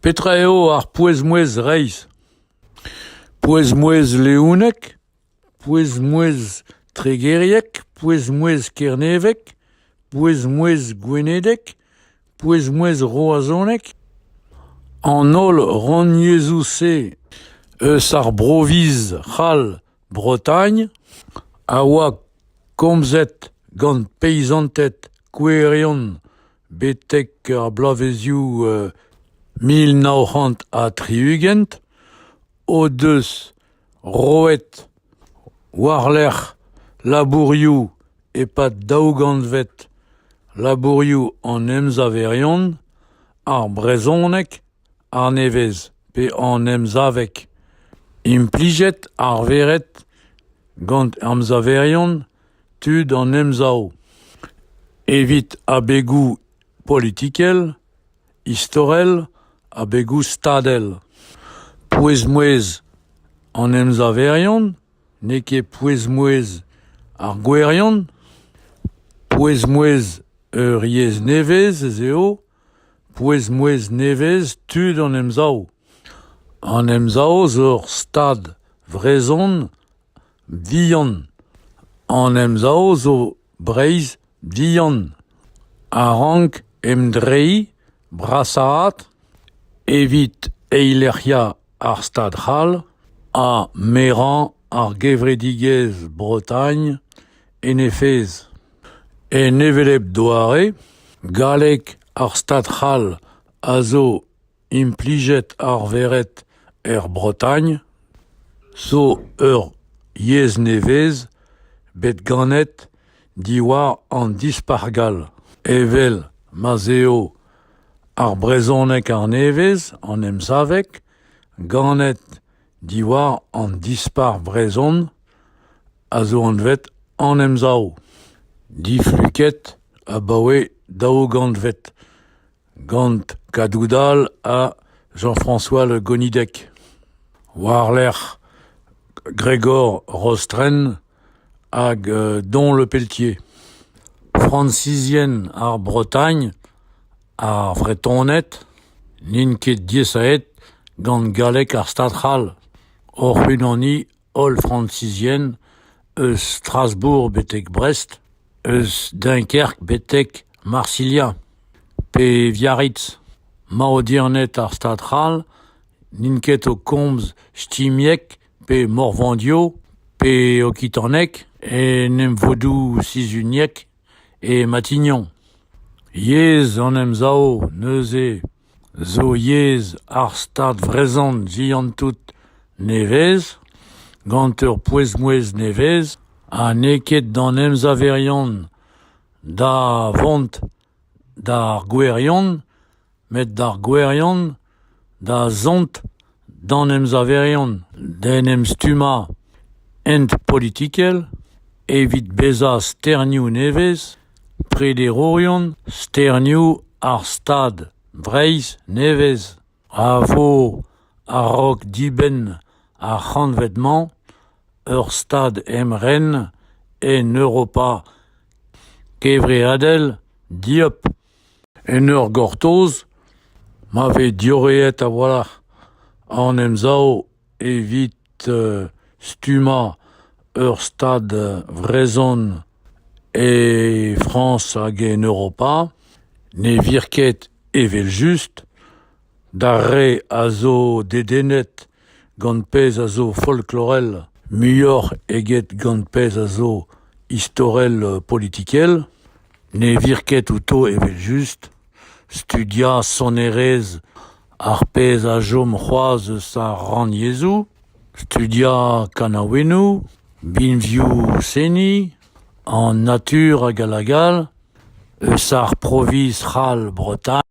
Petra eo ar pouez-mouezh reizh ? Pouez-mouezh leounek ? Pouez-mouezh tregeriek ? Pouez-mouezh kernevek ? Pouez-mouezh gwenedek ? Pouez-mouezh roazhonek ? An holl rannyezhoù-se eus ar broviz c'hall Bretagne a oa komzet gant peizanted kouerion betek ar bloavezioù mil nav c'hant ha tri-ugent o deus roet war-lerc'h labourioù e-pad daou gantved labourioù an emsaverion ar brezhoneg annevez pe an emsaveg implijet arveret gant emsaverion tud an emsav evit abegoù politikel istorel abegoù stadel pouez-mouezh an emsaverion n'eo ket pouez-mouezh ar gouerion pouez-mouezh ur yezh nevez ez eo Pouez-mouezh nevez tud an Emsav. An Emsav zo ur stad vrezhon vihan. An Emsav zo Breizh vihan a rank emdreiñ brasaat evit eilec'hiañ ar Stad c'hall ha merañ ar gevredigezh Bretagne en he fezh. En hevelep doare, galleg ar Stad c'hall a zo implijet arveret er Bretagne, zo ur yezh nevez bet ganet diwar an dispac'h gall, evel ma'z eo ar brezhoneg arnevez, an emsaveg, ganet Diwar an Dispac'h vrezhon a zo anvet An Emsav, difluket abaoe daou gantved, gant Kadoudal ha Jean-François Le Gonidec. War-lerc'h Gregor Rostren hag Don Le Pelletier. Fransizien ar Bretagne Ar Vretoned n'int ket diaesaet gant galleg ar Stad c'hall hoc'h-unani holl Frañsizien eus Strasbourg betek Brest, eus Dunkerque betek Marsilha pe Biarritz. Maodierned ar Stad c'hall n'int ket o komz shtimieg pe morvandio pe okitaneg en emvodoù sizhuniek. E Matignon, yezh an Emsav neuze zo yezh ar Stad vrezhon vihan-tout nevez, gant ur pouez-mouezh nevez ha n'eo ket d'an emsaverion da vont d'ar gouerion met d'ar gouerion da zont d'an emsaverion d'en em stummañ hent politikel evit bezañ sternioù nevez prederourion sternioù ar Stad Breizh nevez a vo a-raok dibenn ar c'hantved-mañ ur Stad emren en Europa kevreadel dieub En ur gortoz ma vez diorreet a-walc'h an emsav evit stummañ ur stad vrezhon e Frañs hag en Europa ne vir ket evel-just d'ar re a zo dedennet Gant pezh a zo folklorel, muioc'h eget gant pezh a zo istorel-politikel, ne vir ket outo evel-just studiañ sonerezh ar pezh a chom c'hoazh eus ar rannyezhoù, studiañ kanaouennoù, binvioù-seniñ, an natur hag all hag all, eus ar proviñs c'hall Bretagne.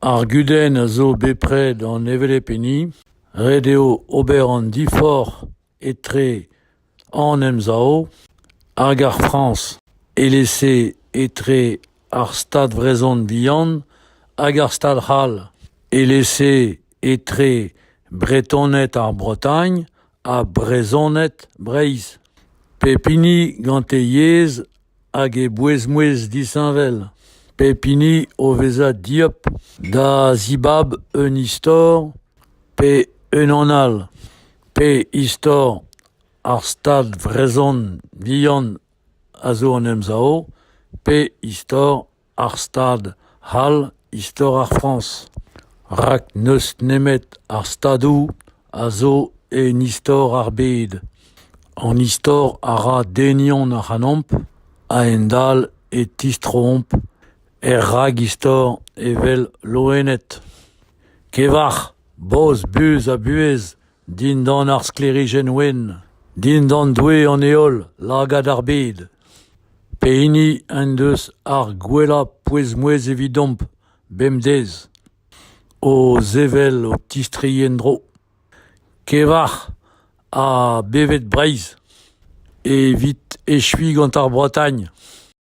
Ar gudenn a zo bepred an hevelep hini, ret eo ober an diforc'h etre an Emsav hag ar Frañs, evel-se etre ar Stad vrezhon vihan hag ar Stad c'hall, evel-se etre Bretoned ar Bretagne Ha Brezhoned Breizh, pep hini gant e yezh hag e bouez-mouezh disheñvel, pep hini o vezañ dieub da zibab un istor pe unan all, pe istor ar Stad vrezhon vihan a zo an Emsav, pe istor ar stad c'hall istor ar Frañs, rak n'eus nemet ar Stadoù a zo en istor ar bed. An istor a ra denion ac'hanomp a-hend-all e tistroomp er ragistor evel loened. Kevac'h, boz, buz ha buhez Dindan ar sklêrijenn wenn, dindan doue an heol, lagad ar bed, pehini en deus ar gwellañ pouez-mouezh evidomp bemdez, o sevel ho tistri en-dro. Kevac'h ha bevet Breizh, evit echuiñ gant ar Bretagne.